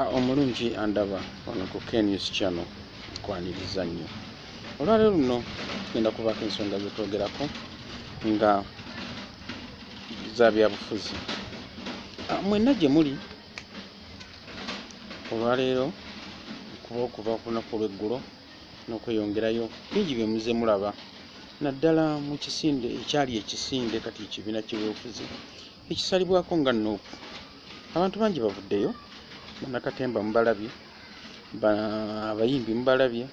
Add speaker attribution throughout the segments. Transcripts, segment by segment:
Speaker 1: Ah, omulungi andaba wano ku knews channel kwaniriza nnyo olwaleero luno tugenda kubaako ensonga zetwogerako nga za byabufuzi ah, mwenna gye muli olwaleero kuba okuva ku lunaku olweggulo n'okweyongerayo bingi bye muze mulaba naddala mu kisinde ekyali ekisinde kati ekibiina ky'ebyobufuzi ekisalibwako nga nuupu abantu bangi bavuddeyo banakatemba mubalabye abayimbi mubalabye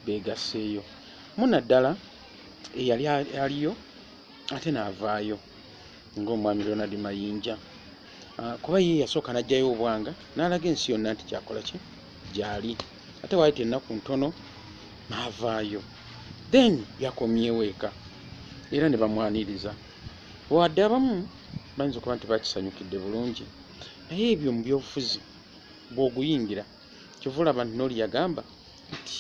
Speaker 1: begasseeyo muna ddala eyali aliyo ate naavaayo ngaomwami ronald mayinja ah, kuba ye yasooka najjayo obwanga naalaga ensi yonna nti kyakola ki gyali ate waayita ennaku ntono naavaayo then yakomyeweeka era ne bamwaniriza Wadde abamu bayinza okuba nti bakisanyukidde bulungi, naye ebyo mu byobufuzi bw'oguyingira kyova olaba nti nooli yagamba nti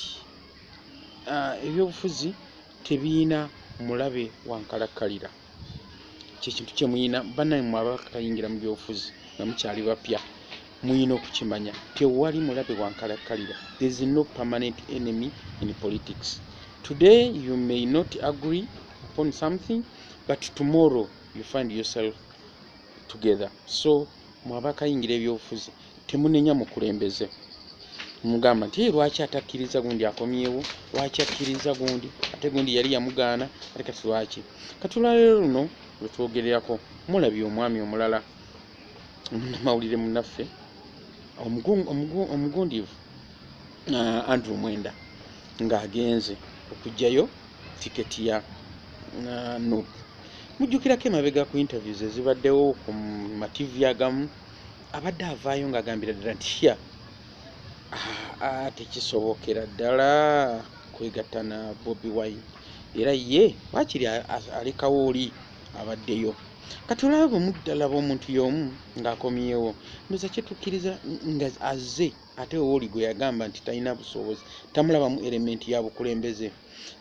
Speaker 1: ah, ebyobufuzi tebiyina mulabe wankalakkalira kyekintu kyemuyina banaye mwe abakayingira mu byobufuzi nga mukyali bapya muyina okukimanya tewali mulabe wankalakkalira there's no permanent enemy in politics today you may not agree upon something but tomorrow you find yourself together so mwabakayingira ebyobufuzi temunenya mukulembeze mugamba nti lwaki atakkiriza gundi akomyewo lwaki akkiriza gundi ate gundi yali yamugaana ate kati lwaki kati olwaleero luno lwetwogererako mulabye omwami omulala omunamawulire munaffe omugundiivu uh, andrew mwenda ng'agenze okugjayo tiketi ya uh, nup mujjukirako emabega ku interviews ezibaddewo ku mativi agamu abadde avaayo ng'agambira ddala nti ya tekisobokera ddala kwegatta na bobi wine era ye wakiri alekawo oli abaddeyo kati olaba bwe muddalaba omuntu y'omu ng'akomyewo ndoza kyetukkiriza nga azze ate owoli gwe yagamba nti talina busobozi tamulabamu element ya bukulembeze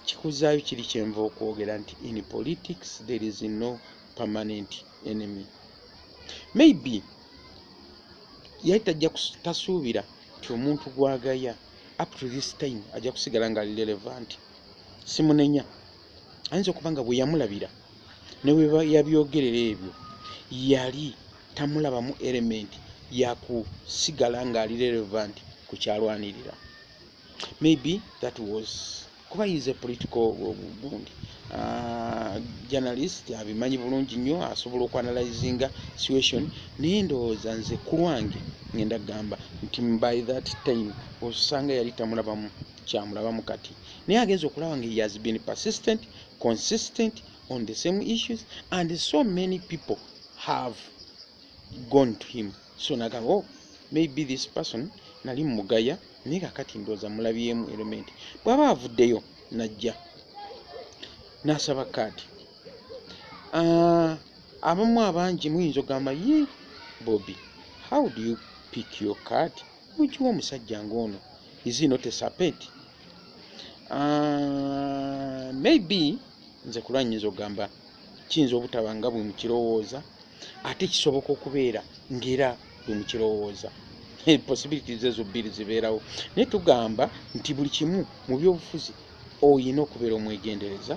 Speaker 1: kikuzaayo kiri kyenva okwogera nti in politics there is no permanent enemy maybe yali tajja tasuubira nti omuntu gwagaya up to this time ajja kusigala nga ali relevant simunenya ayinza okuba nga bweyamulabira neweyabyogerera ebyo yali tamulabamu element yakusigala ngaali relevant kukyalwanirira maybe that was kuba is a political gundi uh, journalist abimanyi bulungi nnyo asobola okuanalyzinga situation naye ndowooza nze kulwange ngenda kugamba nti by that time osanga yali tamulabamu kyamulabamu kati naye agenza okulaba nga he has been persistent consistent on the same issues and so many people have gone to him so nagamba oh, maybe this person nali mugaya naye kakati ndooza mulabyemu element bwaba avuddeyo najja nasaba kaadi ah, abamu abangi muyinza ogamba ye bobi how do you pick your card mukiwa omusajja ngaono is not a sapeti uh, ah, maybe nze kulwa nyinza okugamba kiyinza obutaba nga bwe mukirowooza ate kisoboka okubeera ngaera bwe mukirowooza possibilities ezo bbiri zibeerawo naye tugamba nti buli kimu mu byobufuzi olina okubeera omwegendereza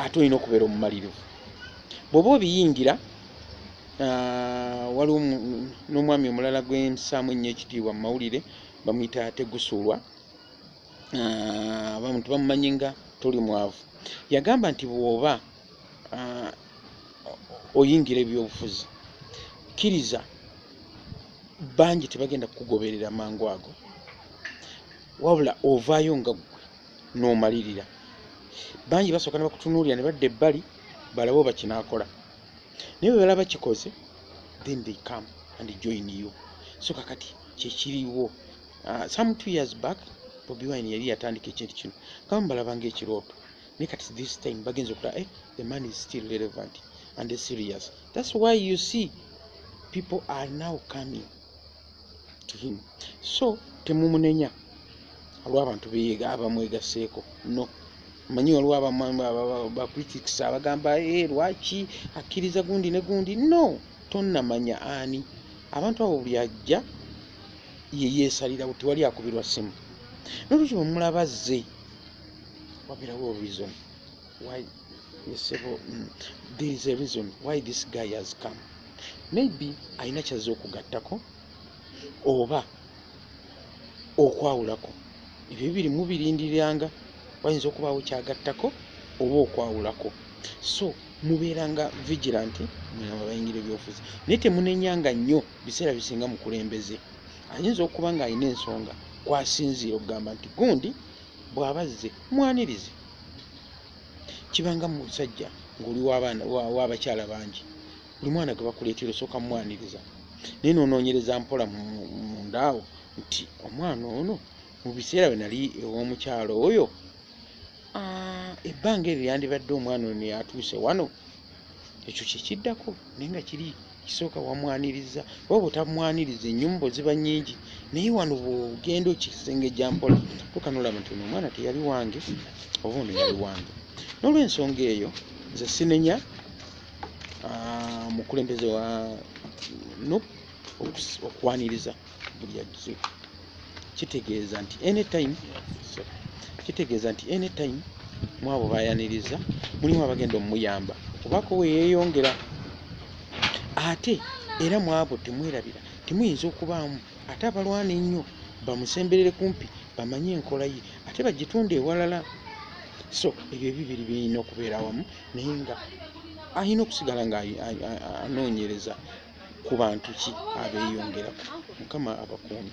Speaker 1: ate olina okubeera omumalirivu bwoba obiyingira ah, waliwo n'omwami omulala gwemusaamu ennyo ekitiibwa mu mawulire bamuyita tegusulwa ah, abantu bamumanyi nga toli mwavu yagamba nti bwoba ah, oyingira ebyobufuzi kkiriza bangi tebagenda kukugoberera mangu ago wabula ovaayo nga ggwe n'omalirira bangi basooka ne bakutunuulira ne badda ebbali balabe oba kinaakola naye bwe balaba kikoze then they come and join you so kakati kyekiriwo Uh, some two years back Bobi Wine yali yatandika ekintu kino kama mbalabanga ekirooto naye kati this time bagenza okulaba eh, the man is still relevant and serious that's why you see people are now coming to him so temumunenya olw'abantu beyiga abamwegaseeko no manyi waliwo abacritics abagamba e eh, lwaki akkiriza gundi ne gundi no tonnamanya ani abantu abo buli ajja ye yeesalirawo tewali akubirwa ssimu nolwekyo bwemulaba zze wabirawo reason why yesebo mm, there is a reason why this guy has come maybe alina kyazze okugattako oba okwawulako ebyo bibiri mubirindiriranga wayinza okubaawo kyagattako oba okwawulako so mubeeranga vigilanti mwe abayingira ebyobufuzi naye temunenyanga nnyo biseera bisinga mukulembeze ayinza okuba ng'alina ensonga kwasinziira okugamba nti gundi bw'aba zze mwanirize kibanga mu musajja ng'oli w'abakyala bangi buli mwana gwe bakuleetera osooka mumwaniriza naye noonoonyereza mpola mundaawo nti omwana ono mu biseera bwe nali ew'omukyalo oyo ebbanga eryo yandibadde omwana ono yatuuse wano ekyo kyekiddako naye nga kiri kisooka wamwaniriza oba bwetamwaniriza enyumba oziba nyingi naye wano bwogenda okisengejja mpola tukanolaba nti ono omwana teyali wange oba ono yali wange n'olwensonga eyo nze sinenya ah, mukulembeze wa nup okwaniriza buli ajje kitegeeza nti anytime kitegeeza nti anytime mwabo bayaniriza mulimu abagenda omuyamba obako weyeyongera ate era mwabo temwerabira temuyinza okubaamu ate abalwana ennyo bamusemberere kumpi bamanye enkola ye ate bagitunde ewalala so ebyo ebibiri birina okubeera wamu naye nga alina okusigala nga anoonyereza ku bantu ki abeeyongerako mukama abakuumi